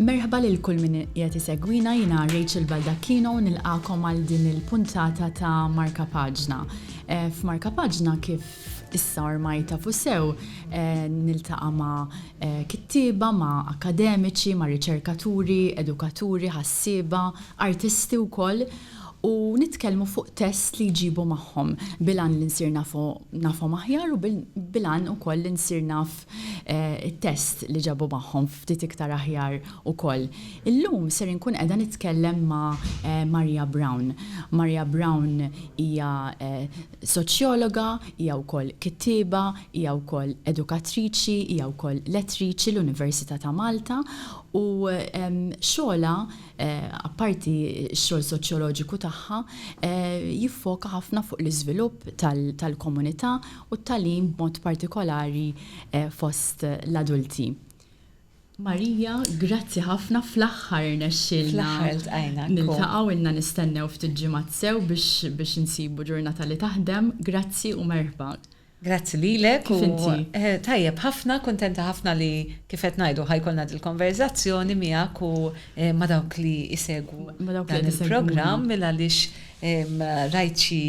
Merħba lil kull min qed isegwina jiena Rachel Baldacchino nilqakom għal din il-puntata ta' Marka Paġna. Eh, F'Marka Paġna kif issa ormaj ta' fusew eh, niltaqa' ma' eh, kittieba, ma' akademiċi, ma' riċerkaturi, edukaturi, ħassieba, artisti wkoll u nitkellmu fuq test li jġibu magħhom bil-għan li nsir nafu nafhom aħjar u bil-għan ukoll li nsir naf it-test li ġabu magħhom ftit iktar aħjar ukoll. Illum ser inkun qiegħda nitkellem ma' Maria Brown. Maria Brown hija soċjologa, hija wkoll kittieba, hija wkoll edukatriċi, hija wkoll lettriċi l-Università ta' Malta u xogħolha apparti x-xogħol soċjoloġiku tagħha, jiffoka ħafna fuq l-iżvilupp tal-komunità u t-tagħlim b'mod partikolari fost l-adulti. Maria, grazzi ħafna, fl-aħħar irnexxielna. Fl-aħħar iltqajna. Niltaqgħu, ilna nistennew ftit ġimgħat sew biex insibu ġurnata li taħdem. Grazzi u merħba. Grazzi lilek u tajjeb ħafna, kuntenta ħafna li kif qed ngħidu ħa jkollna dil-konverżazzjoni miegħek u ma' dawk li jsegwu dan il-programm minn għaliex rajt xi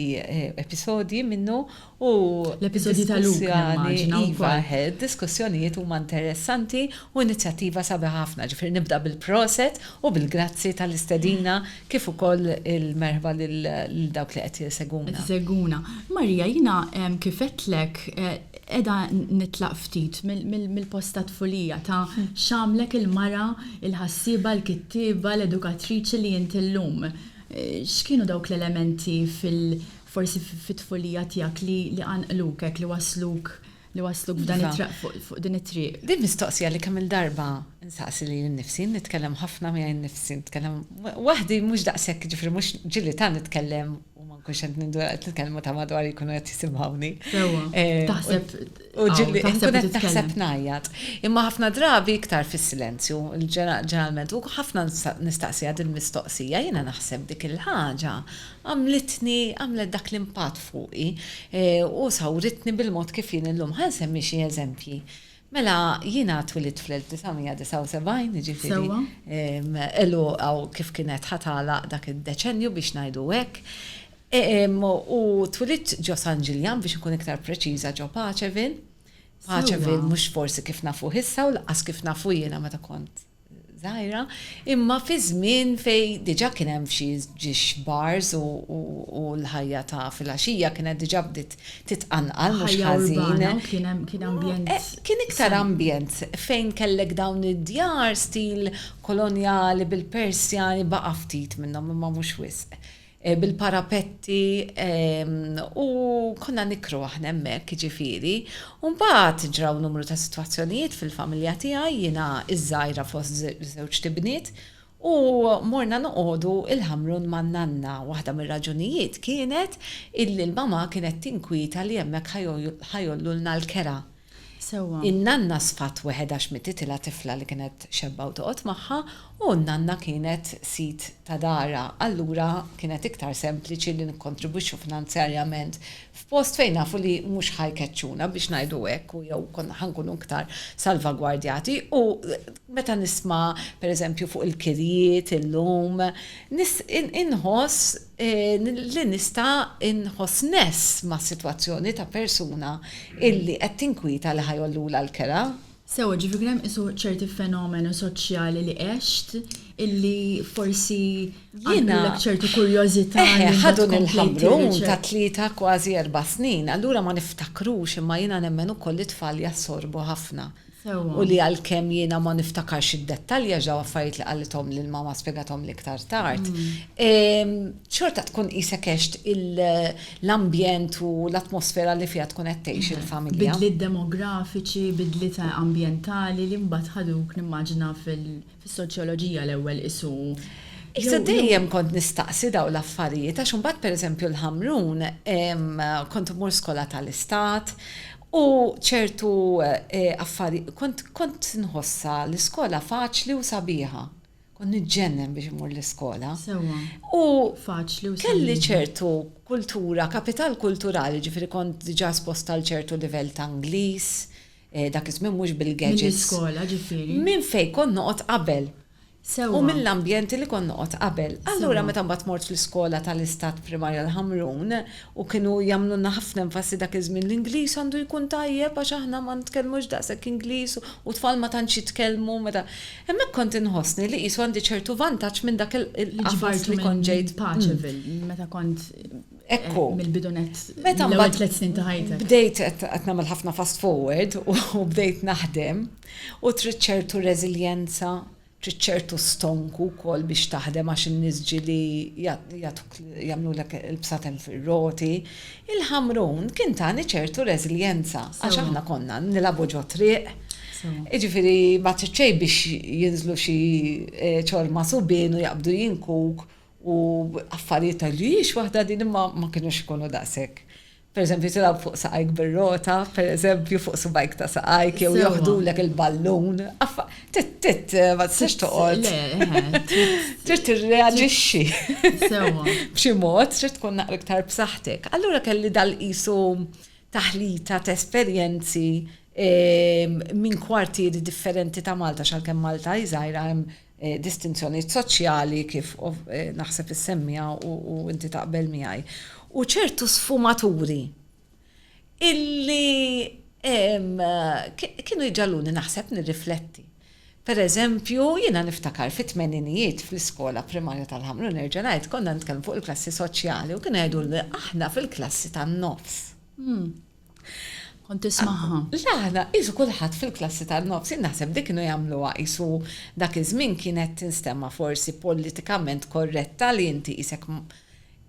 episodji minnu u l-episodji ta' Luke nimmaġina wkoll. Iva, id-diskussjonijiet huma interessanti u inizjattiva sabiħa ħafna, ġifieri nibda bil-proset u bil-grazzi tal-istedina. Kif ukoll il-merħba lil dawk li qed isegwuna. Qed isegwuna. Marija, jiena kif għedtlek qiegħda nitlaq ftit mill-post tat-tfulija ta' x'għamlek il-mara, il-ħassieba, il-kittieba, l-edukatriċi li int illum. X'kienu dawk l-elementi forsi fit-tfulija tiegħek li qanqluk hekk, li wassluk li wasluk f'dan Iva. it-traq fuq fuq din it-triq. Din mistoqsija li kemm il-darba nsaqsi lili nnifsi, nitkellem ħafna miegħi nnifsi, nitkellem waħdi mhux daqshekk ġifieri mhux ġieli ta' nitkellem u ma nkunx qed ninduna qed nitkellem u ta' madwar jkunu qed jisimgħuni. Sewwa. Eh, Taħseb u ġieli taħseb nkun qed titkellem. naħseb ngħajjat. Imma ħafna drabi iktar fis-silenzju, ġeneralment, u ħafna nista- nistaqsiha din mistoqsija, jiena naħseb dik il-ħaġa Għamlitni, għamlet dak l-impatt fuqi u sawritni bil-mod kif jien illum. Ħa nsemmi xi eżempji. Mela, jiena twilidt fl-1979, jiġifieri għeluq hawn kif kienet ħa tagħlaq dak id-deċennju biex ngħidu hekk. U twilidt ġo San Ġiljan, biex inkun iktar preċiża ġo Paceville. Paceville mhux forsi kif nafuh issa u lanqas kif nafu jiena meta kont żgħira, imma fi żmien fejn diġà kien hemm f'xi ġiex bars u l-ħajja ta' fil-għaxija kienet diġà bdiet titqanqal mhux ħażin. Kien iktar ambjent fejn kellek dawn id-djar stil kolonjali bil-Persjani baqa' ftit minnhom imma mhux wisq. bil-parapetti u konna nikru aħna hemmhekk jiġifieri. U mbagħad ġraw numru ta' sitwazzjonijiet fil-familja tiegħi, jiena ż-żgħira fost żewġt ibniet, u morna noqogħdu il-Ħamrun man-nanna. Waħda mir-raġunijiet kienet illi l-mama kienet tinkwieta li hemmhekk ħa jgħollulna l-kera. Sewwa. In-nanna sfat weħedha x'mititilha tifla li kienet xebba u toqgħod magħha u n-nanna kienet sid ta' darha, allura kienet iktar sempliċi li nikkontribwixxu finanzjarjament f'post fejn nafu li mhux ħa jkeċċuna biex ngħidu hekk u jew konna ħa nkunu iktar salvagwardjati u meta nisma' pereżempju fuq il-kirjiet illum, inħoss, li nista' nħoss ness mas-sitwazzjoni ta' persuna illi qed tinkwieta li ħa jgħollulha l-kera. Sewwa, ġifieri hemm qisu ċerti fenomenu soċjali li għext illi forsi għaddulek ċertu kurjożità li tkompli tirriċerka. Eħe, ħadu nil-ħamrun ta' tlieta kważi erba' snin, allura ma niftakrux imma jiena nemmen ukoll li t-tfal jassorbu ħafna. u li għalkemm jiena ma niftakarx id-dettalji għax dawn affarijiet li qalithom lil mama spjegathomli iktar tard, xorta tkun qisek għext l-ambjent u l-atmosfera li fiha tkun qed tgħix il-familja. Bidliet demografiċi, bidliet ambjentali li mbagħad ħaduk nimmaġina fis-soċjoloġija l-ewwel qisu. Issa dejjem kont nistaqsi dawn l-affarijiet għax imbagħad pereżempju l-Ħamrun kont immur skola tal-Istat U ċertu affari, kont kont nħossha l-iskola faċli u sabiħa. Kont niġġennen biex immur l-iskola. Sewwa. U faċli u kelli ċertu kultura, kapital kulturali, ġifieri kont diġà esposta għal ċertu livell ta' Ingliż, dak iż-żmien mhux bil-gadgets. Mill-iskola ġifieri. Minn fejn kont noqgħod qabel. sewwa. U mill-ambjenti li kont noqgħod qabel. Allura meta mbagħad mort fl-iskola tal-Istat Primarja l-Ħamrun u kienu jagħmlulna ħafna enfasi dak iż-żmien l-Ingliż għandu jkun tajjeb għax aħna ma nitkellmux daqshekk Ingliż u t-tfal ma tantx jitkellmu meta. Hemmhekk kont inħossni li qisu għandi ċertu vantaġġ minn dak il-qafas li kont ġejt. Li ġbartu minn Pageville meta kont mill-bidu nett l-ewwel tliet snin ta' ħajtek. Bdejt qed nagħmel ħafna fast forward u bdejt naħdem. U trid ċertu reżiljenza, trid ċertu stonku wkoll biex taħdem għax in-nies ġieli jagħtuk jagħmlulek il-bsaten fir-roti. Il-Ħamrun kien tani ċertu reżiljenza għax aħna konna nilagħbu ġo triq, jiġifieri ma trid xejn biex jinżlu xi ċorma subien u jaqbdu jinkuk u affarijiet ta' jiex waħda din imma ma kinux ikunu daqshekk Pereżempju, tilgħab fuq saqajk bir-rota, pereżempju, fuq subgħajk ta' saqajk, jew joħdulek il-ballun. Tit, ma tistax toqgħod. Trid tirreaġixxi. B'xi mod, trid tkun naqra iktar b'saħħtek. Allura kelli dal-qisu taħlita ta' esperjenzi minn kwartieri differenti ta' Malta, x'għalkemm Malta hi żgħira hemm distinzjonijiet soċjali kif naħseb issemmiha u inti taqbel miegħi. U ċertu sfumaturi illi kienu jġalluni naħseb nirrifletti. Per eżempju, jiena niftakar fit tmeninijiet fl-iskola primarja tal-ħamru nerġa' ngħid konna nitkellmu fuq il-klassi soċjali u kien jgħidu aħna fil-klassi tan-nofs. Hmm. Kont tismagħha? Le aħna qisu kulħadd fil-klassi tan-nofs, jien naħseb dik kienu jagħmluha qisu dak iż-żmien kienet tinstemma forsi politikament korretta li inti qisek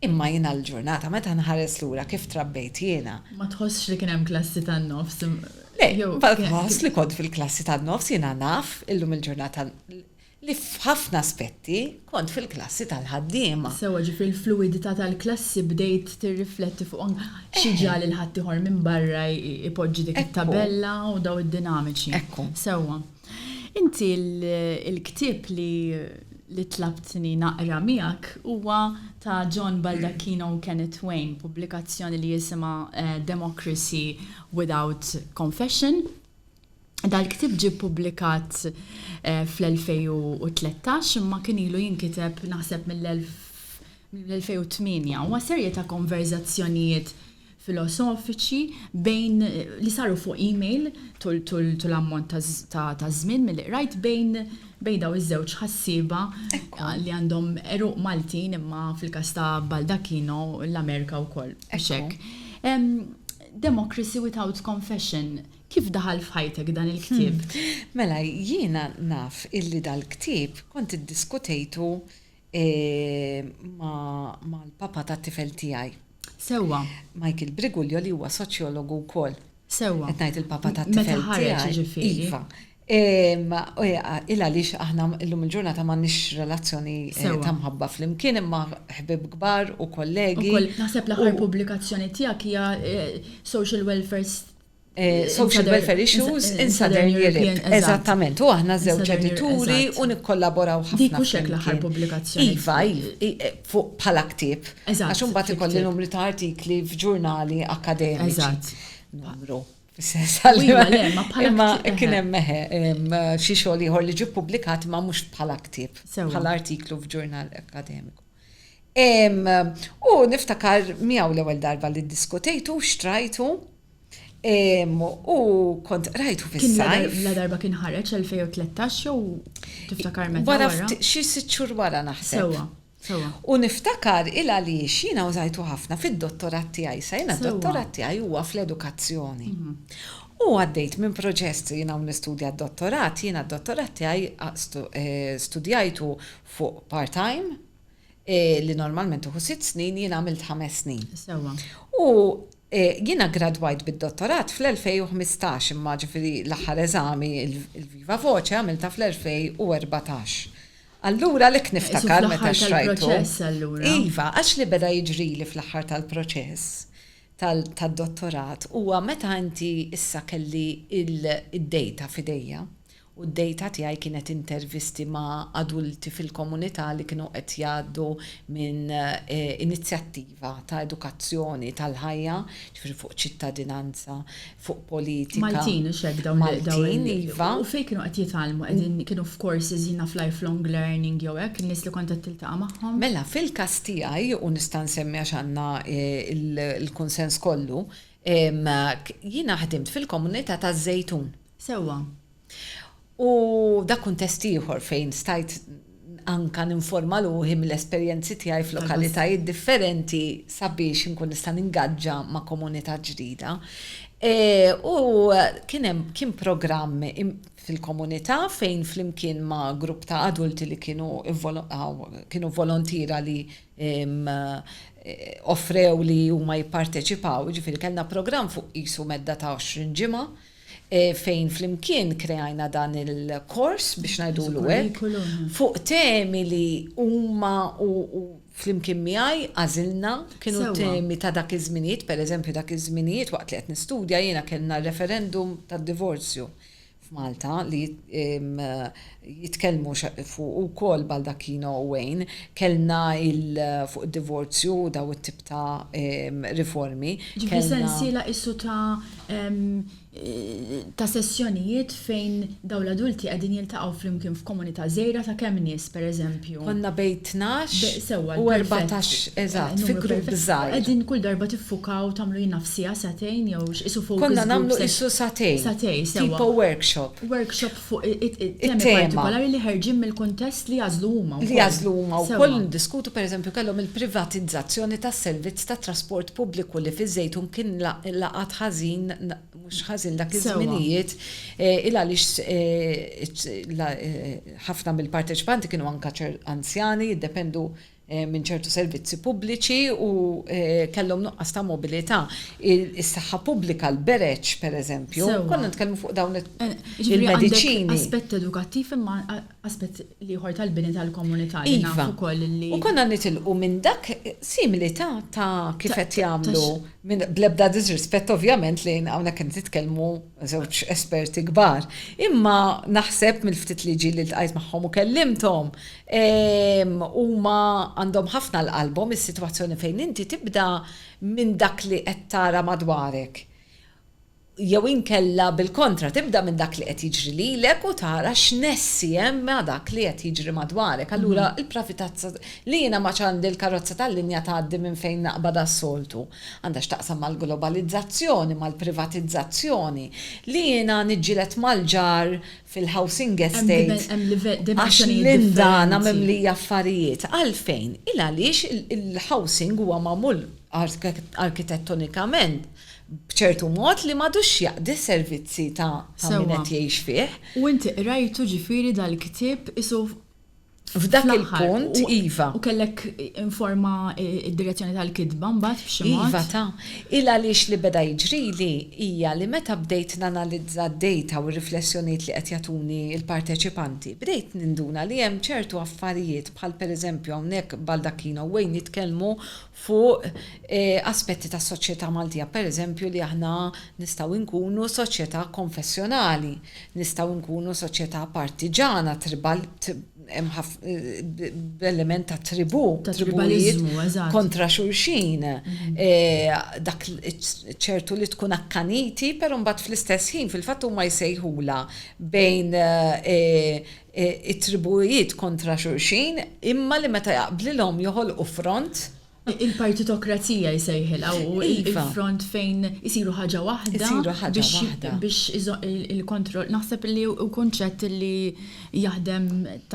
imma jiena l-ġurnata meta nħares lura kif trabbejt jiena. Ma tħossx li kien hemm klassi tan-nofs? Le, nħoss li kont fil-klassi tan-nofs jiena naf illum il-ġurnata li f'ħafna aspetti kont fil-klassi tal-ħaddiema. Sewwa, ġifieri l-fluwidità tal-klassi bdejt tirrifletti fuqhom xi ġiegħ lil ħaddieħor minn barra jpoġġi dik it-tabella u dawn id-dinamiċi. Ekku. Sewwa. Inti l-ktieb li tlabtni naqra miegħek huwa ta' John Baldacchino u Kenneth Wayne, pubblikazzjoni li jisimha Democracy Without Confession. Dal-ktieb ġie ppubblikat fl-2013 imma kien ilu jinkiteb naħseb mill-2008. Huwa serje ta' konverżazzjonijiet filosofiċi bejn li saru fuq email tul ammont ta' żmien milli qrajt bejn bejn dawn iż-żewġ ħassieba li għandhom għeruq Maltin imma fil-każ ta' Baldacchino l-Amerika wkoll. Għax hekk. Democracy without confession. Kif daħal f'ħajtek dan il-ktieb? Mela, jiena naf illi dal-ktieb kont iddiskutejtu mal-papa tat-tifel tiegħi. Sewwa. Michael Briguglio li huwa soċjologu wkoll. Sewwa. Qed ngħid il-papa tat-tifel tiegħi. Iva. Illa li aħna llum il-ġurnata m'għandniex relazzjoni ta' mħabba flimkien imma ħbib kbar u kollegi. Naħseb l-aħħar pubblikazzjoni tiegħek hija Social Welfare social welfare issues in Southern Europe. Eżattament, u aħna żewġ edituri u nikkollaboraw ħafna. Dik mhux hekk l-aħħar pubblikazzjoni. Iva, fuq bħala ktieb. Eżatt. Għax imbagħad ikolli numri ta' artikli f'ġurnali akkademiċi. Eżatt. Numru. Iva, le, ma bħala. Imma kien hemm meħe xi xogħol ieħor li ġie ppubblikat ma mhux bħala ktieb. Bħala artiklu f'ġurnal akkademiku. U niftakar miegħu l-ewwel darba li ddiskutejtu, xtrajtu, u kont rajtu fis-sajf. La darba kien ħareġ 2013 jew tiftakar meta. Wara xi sitt xhur wara naħseb. Sewwa, sewwa. U niftakar il għaliex jiena użajtu ħafna fid-dottorat tiegħi, sa jiena d-dottorat tiegħi huwa fl-edukazzjoni. U għaddejt minn proċess jiena u nistudja d-dottorat, jiena d-dottorat tiegħi studjajtu fuq part-time li normalment tieħu sitt snin jien għamilt ħames snin. Sewwa. U jiena gradwajt bid-dottorat fl-2015 imma ġifieri l-aħħar eżami il-Viva Voce għamiltha fl-2014. Allura lek niftakar meta xrajtu. Fl-aħħar tal-proċess allura. Iva, għax li beda jiġrili fl-aħħar tal-proċess tad-dottorat huwa meta inti issa kelli id-data f'idejja u d-dejta tiegħi kienet intervisti ma' adulti fil-komunità li kienu qed jgħaddu minn inizjattiva ta' edukazzjoni tal-ħajja, ġifieri fuq ċittadinanza, fuq politika. Maltin, hux hekk dawn li dawn. Maltin, iva. U fejn kienu qed jitgħallmu? Qegħdin kienu f'courses jiena naf lifelong learning jew hekk, in-nies li kont qed tiltaqa' magħhom? Mela, fil-każ tiegħi, u nista' nsemmi għax għandna l-kunsens kollu, jiena ħdimt fil-komunità taż-Żejtun. Sewwa. U dak kuntest ieħor fejn stajt anka ninforma ruħi mill-esperjenzi tiegħi f'lokalitajiet differenti sabiex inkun nista' ningaġġa ma' komunità ġdida. E, u kien hemm kien programm fil-komunità fejn flimkien ma' grupp ta' adulti li kienu kienu volontiera li offrew li huma jipparteċipaw, ġifieri kellna programm fuq qisu medda ta' 20 ġimgħa, fejn flimkien kreajna dan il-kors, biex ngħidulu hekk, fuq temi li huma u flimkien miegħi għażilna, kienu temi ta' dak iż-żminijiet, pereżempju dak iż-żminijiet waqt li qed nistudja jiena kellna r-referendum tad-divorzju f'Malta li jitkellmu fuq ukoll Baldacchino u Wayne, kellna il fuq id-divorzju u daw it-tip ta' riformi. Ġifieri sensiela qisu ta' ta' sessjonijiet fejn dawn l-adulti qegħdin jiltaqgħu flimkien f'komunità żgħira ta' kemm nies pereżempju? Konna bejn tnax u erbatax, eżatt, fi grupp żgħir. Qegħdin kull darba tiffukaw tagħmlu jien naf siegħa, sagħtejn jew x'qisu focus group sessions? Konna nagħmlu qisu sagħtejn. Sagħtejn, sewwa. Tipo workshop. Workshop fuq it-temi partikolari li ħerġin mill-kuntest li jagħżlu huma wkoll. Li jagħżlu huma wkoll niddiskutu pereżempju kellhom il-privatizzazzjoni tas-servizz tat-trasport pubbliku li fiż-Żejtun kien laqat ħażin mhux ħażin dak iż-żminijiet il għaliex ħafna mill-parteċipanti kienu anke anzjani jiddependu minn ċertu servizzi pubbliċi u kellhom nuqqas ta' mobilità. Is-saħħa pubblika, l-bereġ, pereżempju, konna nitkellmu fuq dawn il-mediċini. Aspett edukattiv imma aspett ieħor tal-bini tal-komunità li nafu wkoll li. U konna nitilqu minn dak simili ta' kif qed jagħmlu bl-ebda diżrispett ovvjament li hawnhekk qed nitkellmu żewġ esperti kbar. Imma naħseb mill-ftit li ġieli li ltqajt magħhom u kellimthom Huma għandhom ħafna 'l qalbhom is-sitwazzjoni fejn inti tibda minn dak li qed tara madwarek. Jew inkella bil-kontra, tibda minn dak li qed jiġri lilek u tara x'nessi hemm ma' dak li qed jiġri madwarek. Allura l-pravitazza li jiena ma ċandi l-karozza tal-linja tgħaddi minn fejn naqbad għas-soltu, għandha x'taqsam mal-globalizzazzjoni, mal-privatizzazzjoni, li jiena niġġieled mal-ġar fil-housing estate għax minn dan hemm mimlija affarijiet. Għalfejn? Il-għaliex il-housing huwa magħmul arkitettonikament b'ċertu mod li m'għadux jaqdi s-servizzi ta' min qed jgħix fih. Sewwa. U inti qrajtu ġifieri dal-ktieb qisu F'dak il-punt, iva. U kellek informa d-direzzjoni tal-kitba mbagħad b'xi mod? Iva ta. Il-għaliex li beda jiġrili hija li meta bdejt nanalizza d-dejta u r-riflessjonijiet li qed jagħtuni l-parteċipanti, bdejt ninduna li hemm ċertu affarijiet bħal pereżempju hawnhekk baldacchino way nitkellmu fuq aspetti tas-soċjetà Maltija, pereżempju li aħna nistgħu nkunu soċjetà konfessjonali, nistgħu nkunu soċjetà partiġana, tribal, b'element ta' tribù, tribujiet kontra xulxin, dak ċertu li tkun akkaniti, però mbagħad fl-istess ħin fil-fatt huma jsejħulha bejn it-tribujiet kontra xulxin, imma li meta jaqblilhom joħolqu front. Il-partitokrazija jsejħilha u l-front fejn isiru ħaġa waħda biex il-kontroll. Naħseb li hu kunċett li jaħdem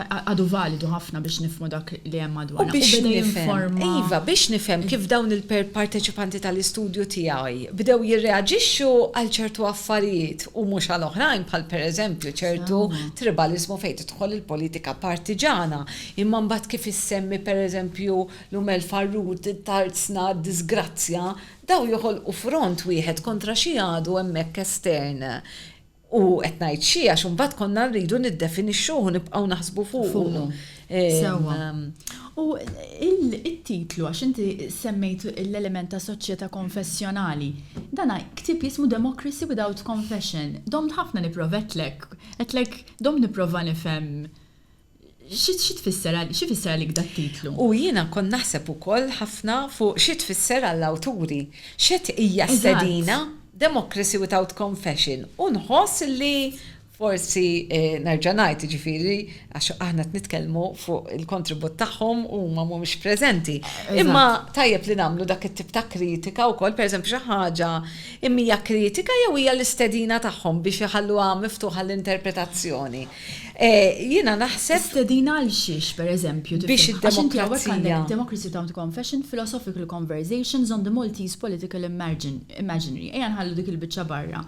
għadu validu ħafna biex nifhmu dak li hemm madwarna. Biex nifhem. Iva, biex nifhem kif dawn il-parteċipanti tal-istudju tiegħi bdew jirreaġixxu għal ċertu affarijiet u mhux għal oħrajn bħal pereżempju ċertu tribaliżmu fejn tidħol il-politika partiġana. Imma mbagħad kif issemmi pereżempju l-Umel Farrut, Tarzna, d-diżgrazzja, dawn joħolqu front wieħed kontra xi għadu hemmhekk estern. U qed ngħid xi għax imbagħad konna rridu niddefinixxuh u nibqgħu naħsbu fuqu. Sewwa. U il-titlu, għax inti semmejt l-element ta' soċjetà konfessjonali, dana ktib jismu Democracy Without Confession. Domt ħafna nipprovetlek, għedtlek domt nipprova nifhem xi tfisser għalik da titlu. U jiena kont naħseb ukoll ħafna fuq xi tfisser għall-awturi. X'qed hija stedina, Democracy Without Confession, u nħoss li Forsi nerġa' ngħid, jiġifieri, għax aħna qed nitkellmu fuq il-kontribut tagħhom u huma mhumiex preżenti. Imma tajjeb li nagħmlu dak it-tip ta' kritika wkoll, pereżempju xi ħaġa hija kritika jew hija l-istedina tagħhom biex iħalluha miftuħa l-interpretazzjoni. Jiena naħseb. Stedina għal xiex, pereżempju? Biex id-demokrazija. Għax inti hawnhekk għandek Democracy Down to Confession, Philosophical Conversations on the Maltese Political Imaginary. Ejja nħallu dik il-biċċa barra.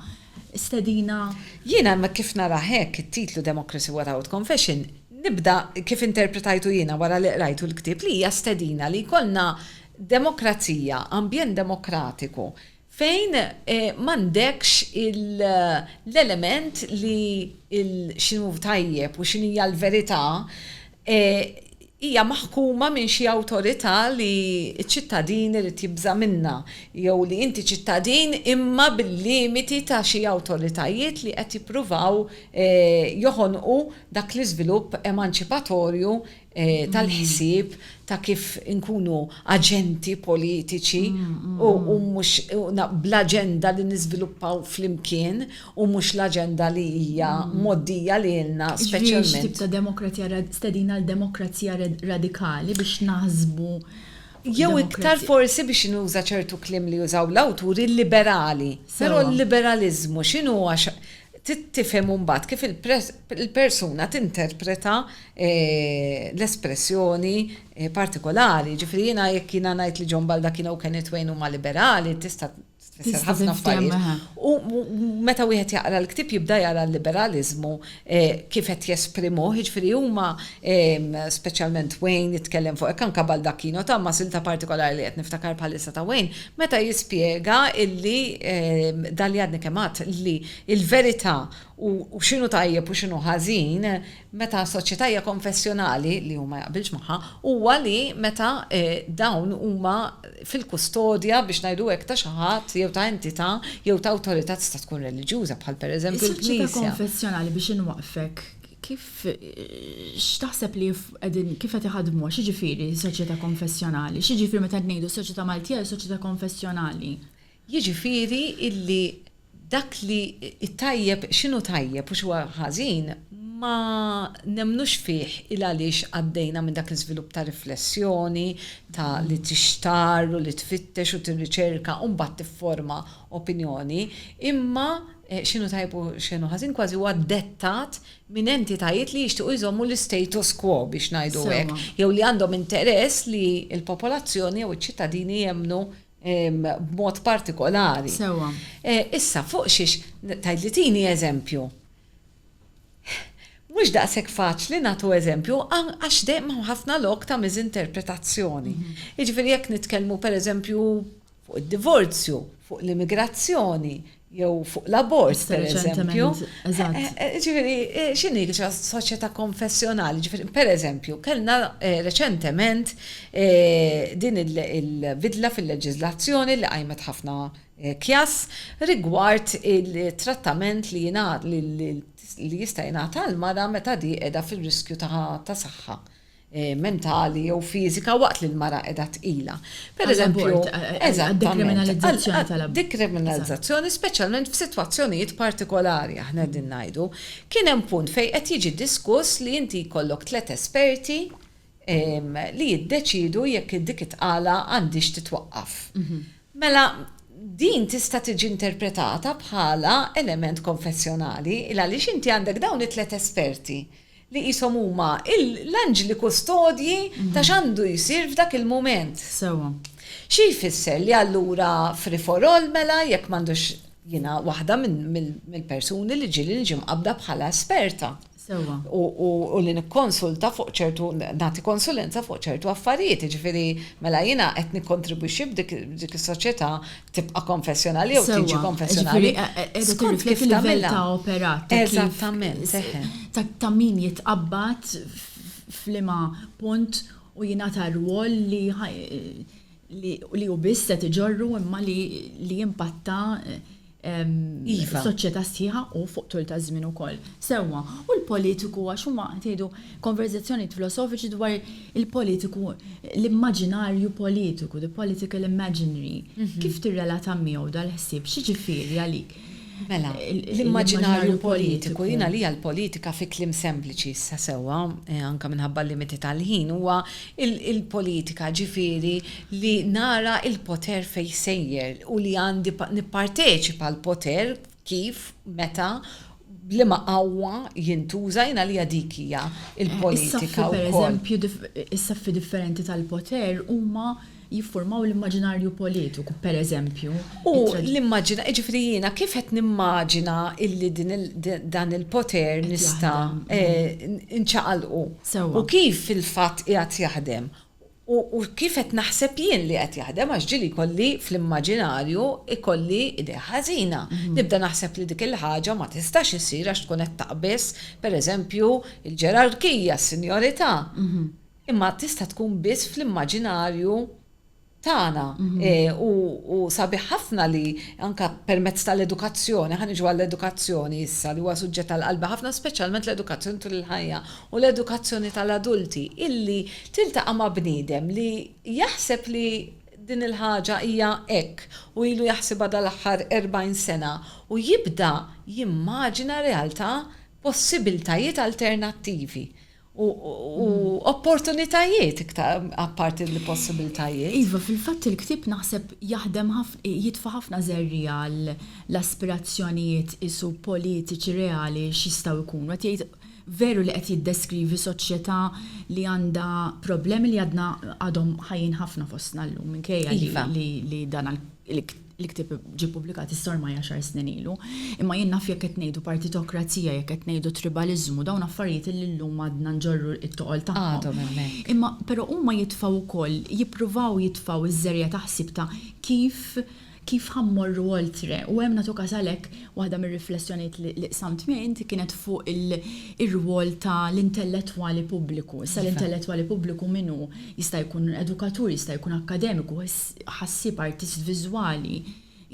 stedina. Jiena ma kif narah hekk it-titlu Democracy Without Confession nibda kif interpretajtu jiena wara li qrajtu l-ktieb li hija stedina li jkollna demokrazija, ambjent demokratiku fejn m'għandekx l-element li x'inhu tajjeb u x'inhija l-verità hija maħkuma minn xi awtorità li ċ-ċittadin irid jibża' minnha jew li inti ċittadin imma bil-limiti ta' xi awtoritajiet li qed jippruvaw joħonqu dak l-iżvilupp emanċipatorju tal-ħsieb ta' kif inkunu aġenti politiċi u mhux bl-aġenda li niżviluppaw flimkien u mhux l-aġenda li hija mgħoddija lilna speċjalment. Jiġifieri xi tip ta' demokrazija rad, stedina għal demokrazija red, radikali biex naħsbu Jew iktar forsi biex nuża ċertu kliem li jużaw l-awturi liberali. Però l-liberaliżmu x'inhu huwa x, trid tifhem imbagħad kif il-persuna tinterpreta l-espressjoni partikolari. Jiġifieri jiena jekk jiena ngħid li John Baldaccino u Kenneth Wayne huma liberali tista' tfisser ħafna affarijiet. U meta wieħed jaqra l-ktieb jibda jara l-liberaliżmu kif qed jesprimuh, jiġifieri huma speċjalment Wayne jitkellem fuq hekk, anke Baldacchino, Thomas inta partikolari li qed niftakar bħalissa ta' Wayne, meta jispjega illi dan li għadni kemm għedt li l-verità u x'inhu tajjeb u x'inhu ħażin meta soċjetà hija konfessjonali, li hu ma jaqbilx magħha, huwa li meta dawn huma fil-kustodja, biex ngħidu hekk, ta' xi ħadd jew ta' entità jew ta' awtorità tista' tkun reliġjuża, bħal pereżempju l-Knisja. Is-soċjetà konfessjonali, biex inwaqqfek, kif, x'taħseb li qegħdin, kif qed iħaddmuha? X'jiġifieri soċjetà konfessjonali? X'jiġifieri meta qed ngħidu s-soċjetà Maltija hija soċjetà konfessjonali? Jiġifieri illi dak li t-tajjeb x'inhu tajjeb u x'huwa ħażin ma nemmnux fih il għaliex għaddejna minn dak l-iżvilupp ta' riflessjoni, ta' li tixtarr u li tfittex u tirriċerka u mbagħad tifforma opinjoni, imma x'inhu tajjeb u x'inhu ħażin kważi huwa dettat minn entitajiet li jixtiequ jżommu l-istatus quo biex ngħidu hekk jew li għandhom interess li l-popolazzjoni jew iċ-ċittadini jemmnu b'mod partikolari. Sewa. Issa fuq xiex tgħidli tini eżempju. Mhux daqshekk faċli nagħtu eżempju għax dejjem hemm ħafna lok ta' miżinterpretazzjoni. Mhm. Jiġifieri jekk nitkellmu pereżempju fuq id-divorzju, fuq l-immigrazzjoni, jew fuq l-abort, per eżempju. Ġifiri, eh, xini soċjetà konfessjonali, ġifiri, per eżempju, kellna eh, reċentement eh, din il-bidla fil-leġizlazzjoni li għajmet ħafna kjas rigward il-trattament li jingħad li jista' jingħata għal mara meta di qiegħda fir-riskju ta' saħħa mentali jew fiżika waqt li l-mara qiegħda tqila. Pereżempju, għad-dekriminalizzazzjoni tal-abort. Dekriminalizzazzjoni speċjalment f'sitwazzjonijiet partikolari, aħna qegħdin ngħidu. Kien hemm punt fejn qed jiġi diskuss li inti jkollok tliet esperti li jiddeċiedu jekk dik it-tqala għandhiex titwaqqaf. Mela, din tista' tiġi interpretata bħala element konfessjonali, il-għaliex inti għandek dawn it-tliet esperti li qishom huma l-anġli kustodji ta' x'għandu jsir f'dak il-mument. Sewwa. Xi jfisser li allura free for all mela jekk m'għandux jiena waħda mill-persuni li ġieli niġi mqabbda bħala esperta. Sewwa. U li nikkonsulta fuq ċertu, nagħti konsulenza fuq ċertu affarijiet, jiġifieri mela jiena qed nikkontribwixxi f'dik is-soċjetà tibqa' konfessjonali jew tiġi konfessjonali. Skont kif tagħmel ta' operat. Eżattament. Ta' min jitqabbad f'lima punt u jingħata rwol li li u biss se tiġorru imma li jimpatta iva. soċjetà sħiħa u fuq tul ta' żmien ukoll. Sewwa, u l-politiku għax huma tgħidu konverżazzjonijiet filosofiċi dwar Il-politiku, l-immaġinarju politiku, the political imaginary, kif tirrelata miegħu dal-ħsieb? X'jiġifieri għalik? Mela, l-immaġinarju politiku, jien għalija l-politika fi kliem sempliċi issa sewwa, anke minħabba l-limiti tal-ħin, huwa l-politika ġifieri li nara l-poter fejn sejjer u li għandi nipparteċipa l-poter, Kif, meta, b'liema qawwa jintuża, jien għalija dik hija l-politika wkoll. Is-saffi, pereżempju, is-saffi differenti tal-poter huma jiffurmaw l-immaġinarju politiku, pereżempju. U l-immaġina, jiġifieri jiena kif qed nimmaġina illi dan il-poter nista' nċaqalqu. Sewwa. U kif fil-fatt qiegħed jaħdem. U kif qed naħseb jien li qed jaħdem għax ġieli jkolli fl-immaġinarju jkolli idea ħażina. Nibda naħseb li dik il-ħaġa ma tistax issir għax tkun qed taqbiż, pereżempju, il-ġerarkija, s-sinjorità. Imma tista' tkun biss fl-immaġinarju tagħna. U sabiħ ħafna li anke permezz tal-edukazzjoni, ħa niġu għall-edukazzjoni issa li huwa suġġett għal qalbi ħafna speċjalment l-edukazzjoni tul il-ħajja u l-edukazzjoni tal-adulti illi tiltaqa' ma' bniedem li jaħseb li din il-ħaġa hija hekk u ilu jaħsibha dal-aħħar 40 sena u jibda jimmaġina realtà possibiltajiet alternattivi u opportunitajiet iktar apparti li possibiltajiet. Iva, fil-fatt il-ktieb naħseb jaħdem jitfa' ħafna żerriegħa għall-aspirazzjonijiet qisu politiċi reali x'jistgħu jkunu. Qed jgħid Veru li qed jiddeskrivi soċjetà li għandha problemi li għadna għadhom ħajjin ħafna fostna llum minkejja li li dan il-ktieb ġie ppubblikat issa ormai għaxar snin ilu. Imma jien naf jekk qed ngħidu partitokrazija, jekk qed ngħidu tribaliżmu, dawn affarijiet illi llum għadna nġorru t-toqol tagħhom. Għadhom hemmhekk. Imma però huma jitfgħu wkoll, jippruvaw jitfgħu ż-żerja ta' ħsieb ta' kif, Kif ħa mmorru oltre? U hemm nagħtu każ għalhekk waħda mir-riflessjonijiet li qsamt miegħi inti kienet fuq ir-rwol ta' l-intellettwali pubbliku. Issa l-intellettwali pubbliku min hu? Jista' jkun edukatur, jista' jkun akkademiku, ħassieb, artist viżwali,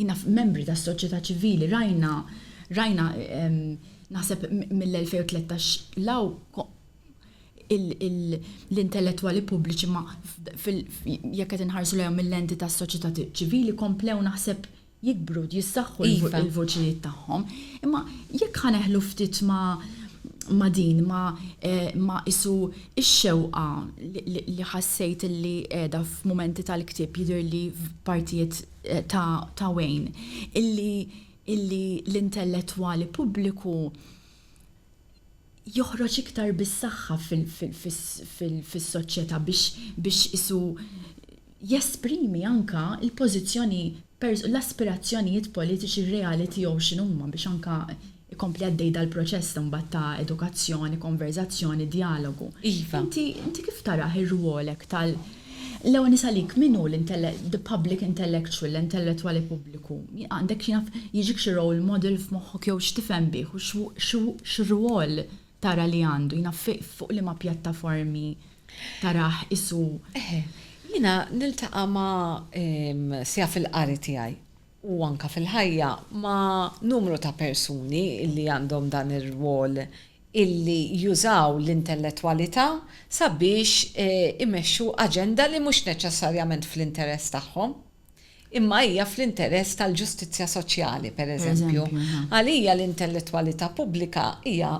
naf membri tas-soċjetà ċivili, rajna rajna naħseb mill-2013 'l hawn l-intellettwali pubbliċi ma jekk qed inħarsu lejhom mil-lenti tas-soċjetà ċivili komplew naħseb jikbru, jissaħħu l-voċijiet tagħhom. Imma jekk ħa neħlu ftit ma' din, ma' qisu x-xewqa li ħassejt li qiegħda f'mumenti tal-ktieb jidhirli f'partijiet ta' Wayne, illi l-intellettwali pubbliku joħroġ iktar bis-saħħa fis-soċjetà biex qisu jesprimi anke l-pożizzjoni, l-aspirazzjonijiet politiċi reali tiegħu x'inhuma biex anke jkompli għaddej dal-proċess imbagħad ta' edukazzjoni, konverżazzjoni, djalogu. Iva. Inti kif tarah ir-rwol hekk tal-, L-ewwel nis'għalik, min hu the public intellectual, l-intellettwali pubbliku? Għandek xi naf, jiġik xi role model f'moħħok jew x'tifhem bih u x'rwol tara li għandu, jien naf fuq liema pjattaformi tarah qisu? Eħe, jiena niltaqa' ma' Sija fil-qari tiegħi. u anke fil-ħajja ma' numru ta' persuni li għandhom dan ir-rwol illi jużaw l-intellettwalità sabiex imexxu aġenda li mhux neċessarjament fl-interess tagħhom, imma hija fl-interess tal-ġustizzja soċjali, pereżempju. Għalija l-intellettwalità pubblika hija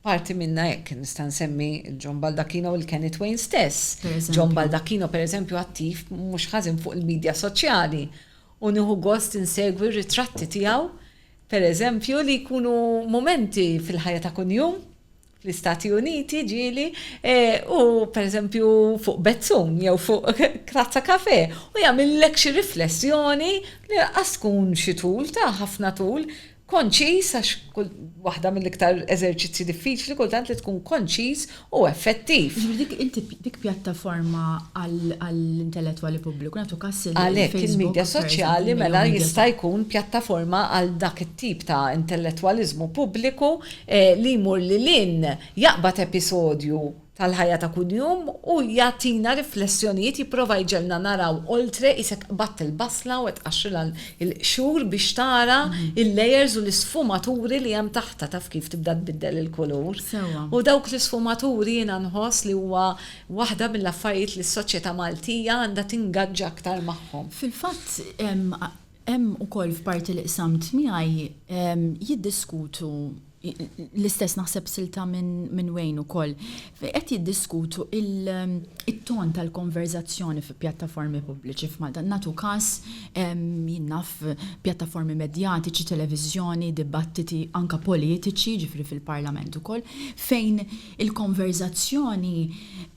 parti minnha hekk. Nista' nsemmi John Baldacchino u l-Kenny Twain stess. John Baldacchino, pereżempju, attiv mhux ħażin fuq il-midja soċjali u nieħu gost insegwi r-ritratti tiegħu, pereżempju, li jkunu mumenti fil-ħajja ta' kuljum, fl-Istati Uniti, ġieli, u pereżempju fuq bezzun jew fuq tazza kafè, u jagħmillek xi riflessjoni li lanqas tkun xi tul ta' ħafna tul, Konċiż, għax waħda mill-iktar eżerċizzji diffiċli kultant li tkun konċiż u effettiv. Ġifieri dik inti dik pjattaforma għall-intellettwali pubbliku, nagħtu każ il-Facebook. Għalhekk il-midja soċjali mela jista' jkun pjattaforma għal dak it-tip ta' intellettwaliżmu pubbliku li jmur lil hinn jaqbad episodju tal-ħajja ta' kuljum u jagħtina riflessjonijiet jipprova jġegħlna naraw oltre qisek qbadt il-basla u qed tqaxxrilha l-qxur biex tara l-layers u l-isfumaturi li hemm taħtha taf kif tibda tbiddel il-kulur. Sewwa. U dawk l-isfumaturi jiena nħoss li huwa waħda mill-affarijiet li s-soċjetà Maltija għandha tingaġġa aktar magħhom. Fil-fatt hemm ukoll f'parti li qsamt miegħi jiddiskutu, l-istess naħseb silta minn Wayne ukoll. Qed jiddiskutu il-ton tal-konverzazzjoni fi pjattaformi pubbliċi f'Malta. Natu każ jinnaf pjattaformi medjatiċi, televiżjoni, dibattiti anka politiċi, ġifri fil-Parlament ukoll, fejn il-konverzazzjoni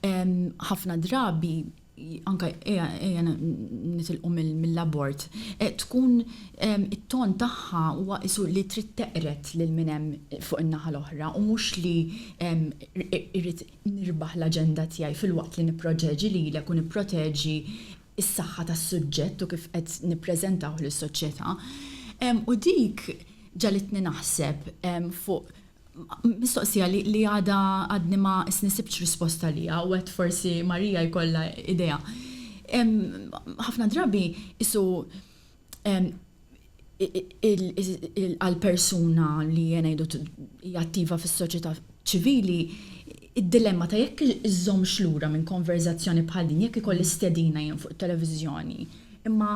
ħafna drabi anke ejja nitilqu mill-abort, tkun it-ton tagħha huwa qisu li trid teqred lil min hemm fuq in-naħa l-oħra u mhux li irrid nirbaħ l-aġenda tiegħi filwaqt li nipproteġi lilek u nipproteġi s-saħħa tas-suġġett u kif qed nippreżentawh lis-soċjetà. U dik ġagħlitni naħseb fuq Mistoqsija li għadha għadni ma snissibtx risposta għaliha u għedt forsi Maria jkollha idea. Ħafna drabi qisu għal persuna li ngħidu hija attiva fis-soċjetà ċivili id-dilemma ta' jekk iżżommx lura minn konverżazzjoni bħal din, jekk ikolli stedina jien fuq it-televiżjoni imma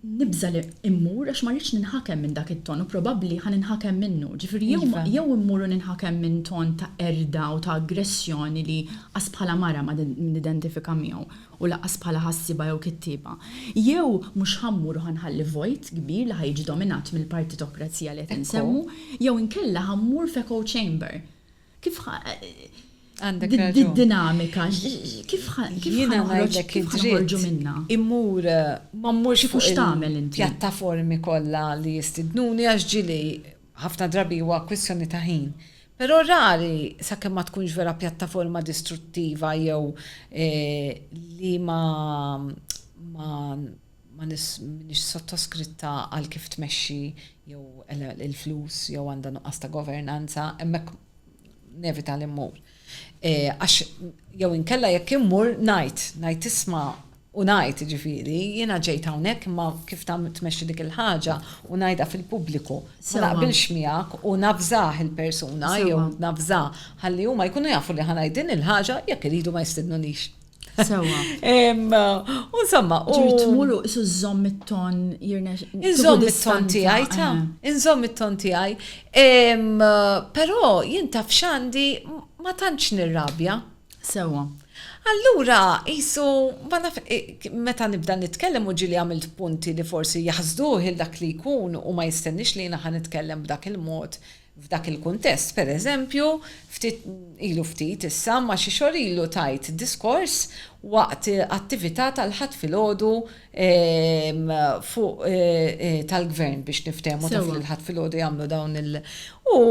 nibża' li mmur għax ma rridx ninħakem minn dak it-ton u probabbli ħa ninħakem minnu. Ġifieri jew ma, jew immur u ninħakem minn ton ta' qerda u ta' aggressjoni li qas bħala mara ma nidentifika miegħu u lanqas bħala ħassieba jew kittieba. Jew mhux ħa mmur u ħa nħalli vojt kbir li ħa jiġi dominat mill-partitokrazija li qed insemmu, jew inkella ħa mmur f'echo chamber. Kif ħa Għandek raġun. Did-dinamika, kif ħanħroġ kif ħanħorġu minna? Immur ma mmurx fuq x'tagħmel inti. Pjattaformi kollha li jistidnuni għax ġili ħafna drabi huwa kwistjoni ta' ħin. Però rari sakemm ma tkunx vera pjattaforma distruttiva jew li ma ma ma m'iniex sottoskritta għal kif tmexxi jew il-flus jew għandha nuqqas ta' governanza, hemmhekk nevita li mmur. E, għax jew inkella jekk immur ngħid, ngħid isma' u ngħid ġifieri, jiena ġejt hawnhekk imma kif ta' tmexxi dik il-ħaġa u ngħidha fil-pubbliku. Ma naqbilx miegħek u nafżah il-persuna jew nafżah ħalli huma jkunu jafu li ħanajd din il-ħaġa jekk iridu ma jistidnunix. Sewa. Insomma, u. Ġirt mulu isu zom it-ton jirna. Inżom it-ton tijaj, ta' eh. inżom it-ton tijaj. Pero jien taf xandi ma tantx nirrabja. Sewa. Allura, jisu, eh, meta nibda nitkellem u ġili għamilt punti li forsi jahzduħ il-dak li jkun u ma jistennix li jina ħan nitkellem b'dak il-mod F'dak il-kuntest, per eżempju, ftit ilu ftit issa ma xi xhur ilu tajt diskors waqt attività tal-Ħadd filgħodu fuq tal-Gvern biex niftehmu taf li l-Ħadd filgħodu jagħmlu dawn il u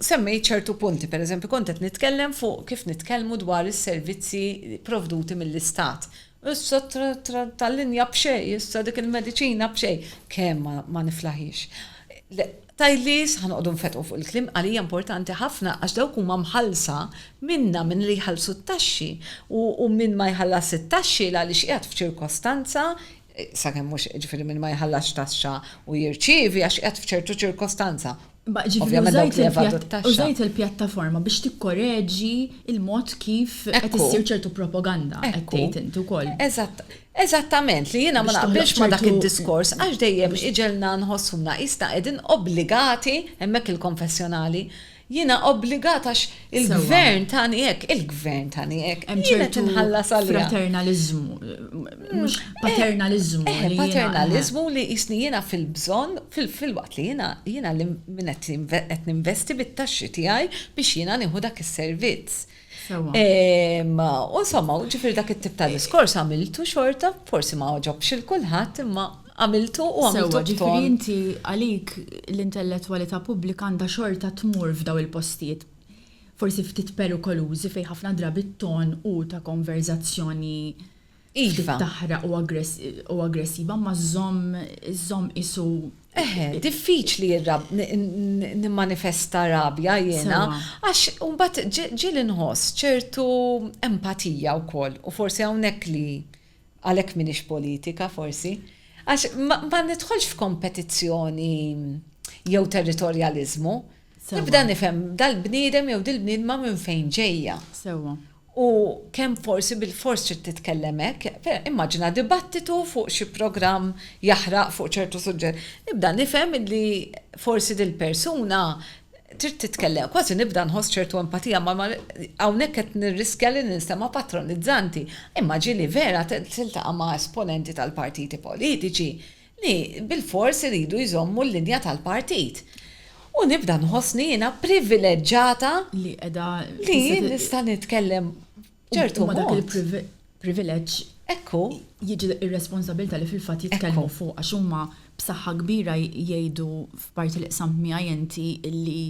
semmejt ċertu punti, per eżempju kont qed nitkellem fuq kif nitkellmu dwar is-servizzi provduti mill-Istat. Issa tal-linja b'xejn, issa dik il-mediċina b'xejn. Kemm ma niflaħiex. Tgħidli issa ħa noqogħdu nfetqu fuq il-kliem, għalija importanti ħafna għax dawk huma mħallsa minna, minn li jħallsu t-taxxi u min ma jħallasx it-taxxi l-għaliex qiegħed f'ċirkostanza, sakemm mhux, jiġifieri min ma jħallasx taxxa u jirċievi għax qiegħed f'ċertu ċirkostanza. Imma ġifieri użajt il-pjattaforma biex tikkoreġi l-mod kif qed issir ċertu propaganda qed tgħid int ukoll. Eżatt. Eżattament, li jiena ma naqbilx ma' dak id-diskors għax dejjem iġegħlna nħossuna qisna qegħdin obbligati, hemmhekk il-konfessjonali, jiena obbligat għax il-gvern tani hekk, il-gvern tani hekk, jien qed inħallas għaliha. Hemm ċertu fraternaliżmu, mhux paternaliżmu. Eh, paternaliżmu li qisni jiena fil-bżonn, filwaqt li jiena jiena li min qed ninvesti bit-taxxi tiegħi biex jiena nieħu dak is-servizz. U insomma, ġifir dak it-tip ta' diskors għamiltu xorta, forsi ma ġobx il-kulħadd, imma għamiltu u għamiltu. Ġifiri inti għalik l-intellettualità pubblika għandha xorta tmur f'daw il-postijiet forsi ftit perikolużi fejn ħafna drabi t-ton u ta' konverzazzjoni Iva. Taħraq u aggressiva imma żżomm żżomm qisu. Eħe, diffiċli nimmanifesta rabja jiena għax imbagħad ġieli nħoss ċertu empatija wkoll u forsi hawnhekk li għalhekk m'iniex politika forsi. Għax ma nidħolx f'kompetizzjoni jew territorjaliżmu. Nibda nifhem dal-bniedem jew dil-bniedma minn fejn ġejja. Sewwa. U kemm forsi bilfors trid titkellem hekk. Immaġina dibattitu fuq xi programm jaħraq fuq ċertu suġġett. Nibda nifhem li forsi dil-persuna trid titkellem, kważi nibda nħoss ċertu empatija ma hawnhekk qed nirriskja li ninstema' patronizzanti. Imma ġieli vera tiltaqa' ma' esponenti tal-partiti politiċi li bilfors iridu jżommu l-linja tal-partit. U nibda nħossni jiena privileġġata li qiegħda li jien nista' nitkellem b'ċertu mod. Dak il-privileġġ ekku jiġi r-responsabilità li fil-fatt jitkellmu fuq għax huma b'saħħa kbira jgħidu Parti li qsamt miegħi inti illi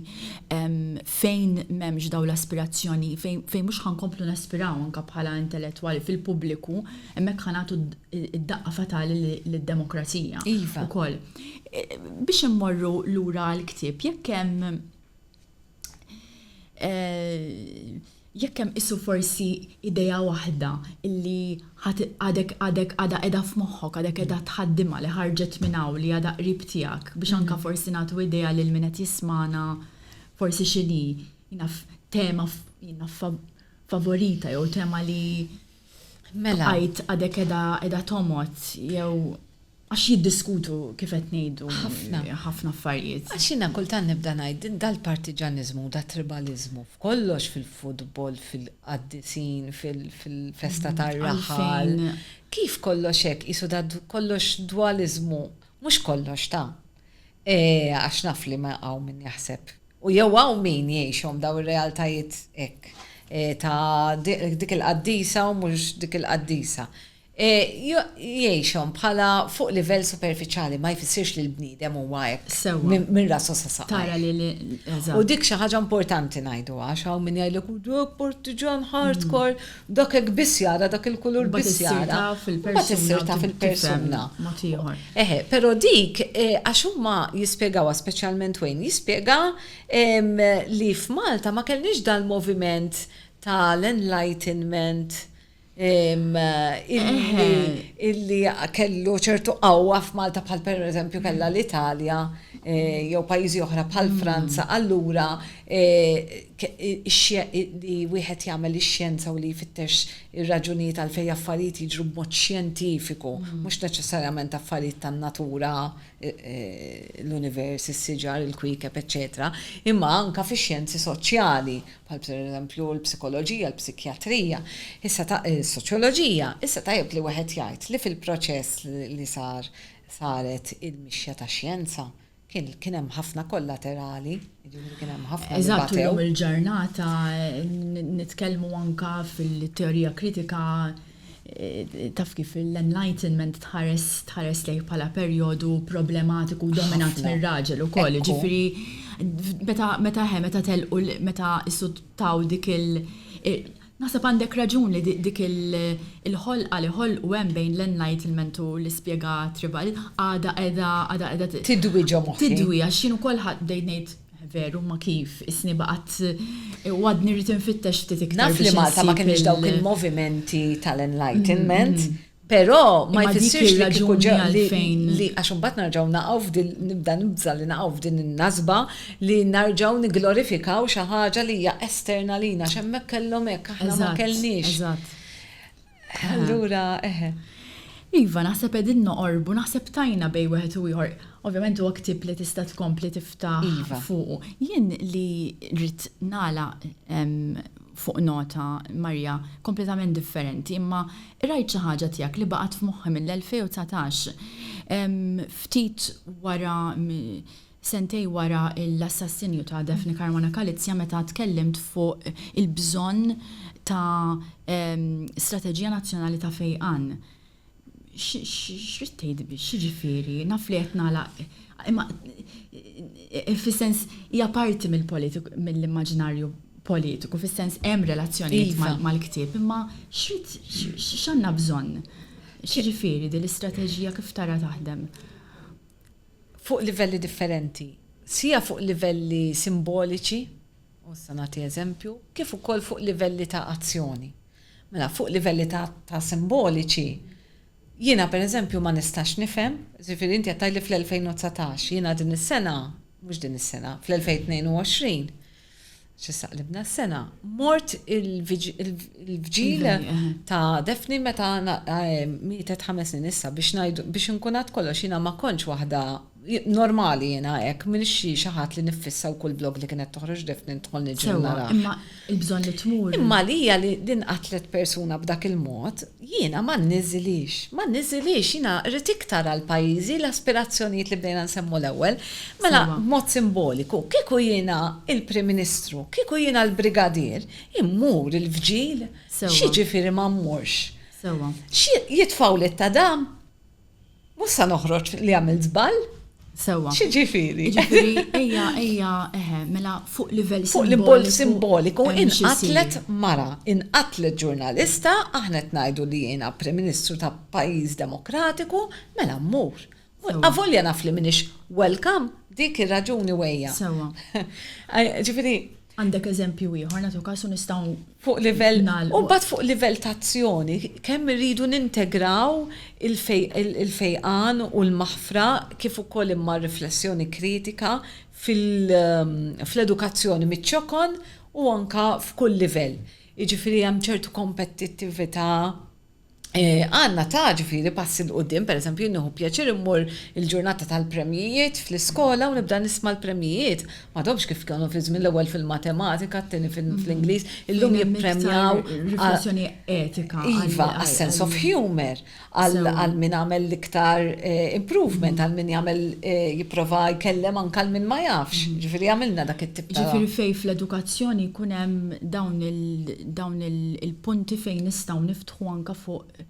fejn m'hemmx dawn l-aspirazzjoni, fejn mhux ħa nkomplu naspiraw anke bħala intellettwali fil-pubbliku, hemmhekk ħa nagħtu d-daqqa fatali lid-demokrazija. Iva. Ukoll. Biex immorru lura għall-ktieb, jekk hemm eh, jekk hemm isu forsi idea waħda illi għadek għadek għada edha f'moħħok, għadek edha tħaddima li ħarġet minn hawn li għada qrib tiegħek biex mhm. anka forsi nagħtu idea lil min qed jismana forsi xini jinaf tema jinaf favorita jew tema li mela għajt għadek edha edha tomot jew Għax jiddiskutu, kif qed ngħidu, ħafna affarijiet. Għax jiena kultant nibda ngħid, dal-partiġaniżmu, dat-tribaliżmu, f'kollox, fil-futbol, fil-qaddisin, fil-festa tar-raħal, kif kollox hekk, qisu da kollox dwaliżmu, mhux kollox ta'. Għax naf li ma hawn min jaħseb, u jew hawn min jgħixhom dawn ir-realtajiet hekk, ta' dik il-qaddisa u mhux dik il-qaddisa. Jgħixhom bħala fuq livell superfiċjali ma jfissirx li l-bniedem huwa hekk minn rasu sa saqajh. U dik xi ħaġa importanti ngħidu għax hawn min jgħidlek u dak partiġan hardcore, dak hekk biss jara, dak il-kulur biss jara. Imbagħad issir taf il-persuna. Eħe, però dik għax huma jispjegawha speċjalment Wayne jispjega li f'Malta ma kellniex dal-moviment tal-enlightenment illi kellu ċertu qawwa f'Malta bħal pereżempju kellha l-Italja eh, jew pajjiżi oħra bħal mm. Franza, allura eh, li wieħed jagħmel ix-xjenza u li jfittex ir-raġunijiet għal fejn affarijiet jiġru b'mod xjentifiku, mm. mhux neċessarjament affarijiet tan-natura eh, l-univers, is-siġar, il-kwikeb, eċetera, imma anka fix-xjenzi soċjali bħal pereżempju l-psikoloġija, l-psikjatrija, issa ta, is-soċjoloġija, issa tajjeb li wieħed jgħid li fil-proċess li sar saret il-mixja tax-xjenza kien kien hemm ħafna kollaterali, jiġifieri kien hemm ħafna li Eżatt, batew. illum il-ġurnata n- nitkellmu anka fil-teorija kritika Taf kif l-Enlightenment tħares lejh bħala perjodu problematiku u dominat mir-raġel ukoll, jiġifieri meta he meta telqu meta isuttaw dik il- Naħseb għandek raġun li dik il-ħolqa li ħolqu hemm bejn l-Enlightenment u l-ispjega tribali għadha qiegħda għadha qiegħda tidwi ġo moħħi. Tidwi għax jien ukoll bdejt ngħid Veru, ma kif, isni baqgħet u għadni rrid infittex ftit iktar. Naf li Malta ma kienx dawk il-movimenti tal-enlightenment, però ma jfissirx li kieku ġew għalfejn li għax imbagħad narġgħu naqgħu f'din nibda nibża li naqgħu f'din in-nasba li narġgħu nigglorifikaw xi ħaġa li hija esterna lina għax hemmhekk kellhom hekk aħna ma kellniex. Allura, eħe. Iva, naħseb qegħdin noqorbu, naħseb tajna bejn wieħed u ieħor. Ovvjament huwa ktieb li tista' tkompli tiftaħ iva. fuqu. Jien li rrid nagħlaq fuq nota Marja kompletament differenti, imma rajt xi ħaġa tiegħek li baqgħet f'moħħi mill-2019. Ftit wara sentejn wara l-assassinju ta' Daphne Caruana Galizia meta tkellimt fuq il-bżonn ta' strateġija nazzjonali ta' fejqan. X'ridt tgħid biex, x'jiġifieri? Naf li qed nagħlaq imma fis-sens hija parti mill-immaġinarju politiku, fis-sens hemm relazzjonijiet mal-ktieb, imma x'ridt, x'għandna bżonn? X'jiġifieri din l-istrateġija kif tara taħdem? fuq livelli differenti, sia fuq livelli simboliċi, u issa nagħti eżempju, kif ukoll fuq livelli ta' azzjoni. Mela, fuq livelli ta' ta' simboliċi, jiena pereżempju ma nistax nifhem, jiġifieri inti qed tgħidli fl-2019, jiena din is-sena, mhux din is-sena, fl-2022, X'issa qlibna s-sena, mort il-vġil ta' Defni meta mietet ħames snin issa biex ngħidu biex inkunat kollox jiena ma kontx waħda normali jiena hekk minn xi ħadd li niffissa wkoll blog li kienet toħroġ Defni ndħol niġi nara. Imma il-bżonn li tmur. Imma lija li nqatlet persuna b'dak il-mod Jiena ma nniżilhiex. Ma nniżilhiex. Jiena rrid iktar għal pajjiżi l-aspirazzjonijiet li bdejna nsemmu l-ewwel. Mela, b'mod simboliku, kieku jiena l-Prim Ministru, kieku jiena l-Brigadier, immur il-vġil. X'jiġifieri ma mmurx? X'jitfgħuli t-tadam? Mhux sa noħroġ li għamilt żball? Sewwa. X'jiġifieri? Jiġifieri ejja ejja eħe, mela fuq livell simboliku. Fuq livell simboliku inqatlet mara, inqatlet ġurnalista, aħna qed ngħidu li jiena Prim Ministru ta' pajjiż demokratiku, mela mmur. Avolja naf li m'iniex welcome, dik ir-raġuni u ejja. Sewwa. Ġifieri Għandek eżempju ieħor, nagħtu każ u nistgħu nagħlqu. Fuq livell nagħlqu. U mbagħad fuq livell ta' azzjoni, kemm irridu nintegraw il-fejqan u l-maħfra kif ukoll imma r-riflessjoni kritika fl-edukazzjoni miċ-ċokon u anke f'kull livell. Jiġifieri hemm ċertu kompetittività Għandna ta' ġifieri passi 'l quddiem, pereżempju jien nieħu pjaċir immur il-ġurnata tal-premjijiet fl-iskola u nibda nisma' l-premjijiet. M'għadhomx kif kienu fi żmien l-ewwel fil-matematika, t-tieni fl-Ingliż, illum jippremjaw. Riflessjoni etika. Iva, għas-sense of humour, għal min għamel l-iktar improvement, għal min jagħmel jipprova jkellem anke lil min ma jafx. Ġifieri għamilna dak it-tip ta'. Ġifieri fejn fl-edukazzjoni jkun hemm dawn il-. dawn il-punti fejn nistgħu niftħu anke fuq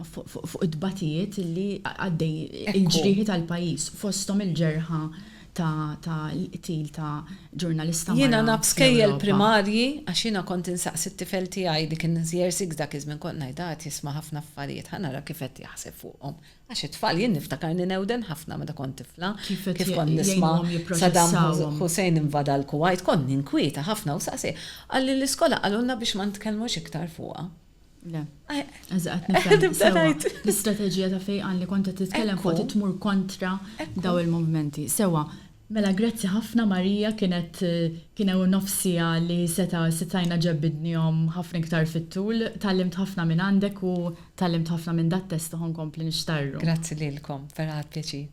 fuq it-tbatijiet li għaddej il-ġrieħi tal-pajjiż fosthom il-ġerħa ta' l-qtil ta' ġurnalista mara. Jiena naf skejjel primarji għax jiena kont insaqsi t-tifel tiegħi dik in-Nzier Six dak iż-żmien kont ngħidha qed jisma' ħafna affarijiet ħa nara kif qed jaħseb fuqhom Għax it-tfal, jien niftakarni newden ħafna meta kont tifla, kif kont nisma' Saddam Hussein invada l-Kuwajt, kont ninkwieta ħafna u saqsi, qal li l-iskola qalulna biex ma nitkellmux iktar fuqha. Le. L-istrateġija ta' fejqan li kont qed titkellem fuqha trid tmur kontra dawn il-movimenti. Sewwa, Mela grazzi hafna Maria kienet kien ewn nofs siegħa li seta setajna ġebbidnihom hafna iktar fit tul tgħallimt hafna minn għandek u tgħallimt hafna minn dat test u ho nkompli nixtarru. Grazzi lilkom vera ħadt pjaċir.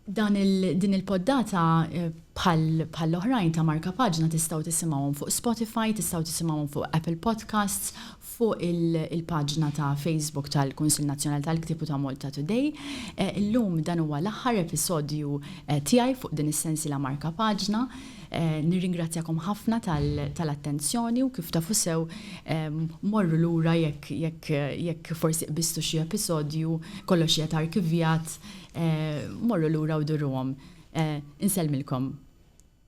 Dan il din il poddata bħal bħall oħrajn ta Marka Paġna tistgħu tisimgħuhom fuq Spotify tistgħu tisimgħuhom fuq Apple Podcasts, Fuq il-paġna ta' Facebook tal-Kunsill Nazzjonali tal-Ktieb u ta' Malta Today, illum dan huwa l-aħħar episodju tiegħi fuq din is-sensiela Markapaġna. Nirringrazzjakom ħafna tal-attenzjoni u kif tafu sew, morru lura jekk forsi qbiżtu xi episodju, kollox qiegħed arkivjat, morru lura u duruhom. Insellmilkom.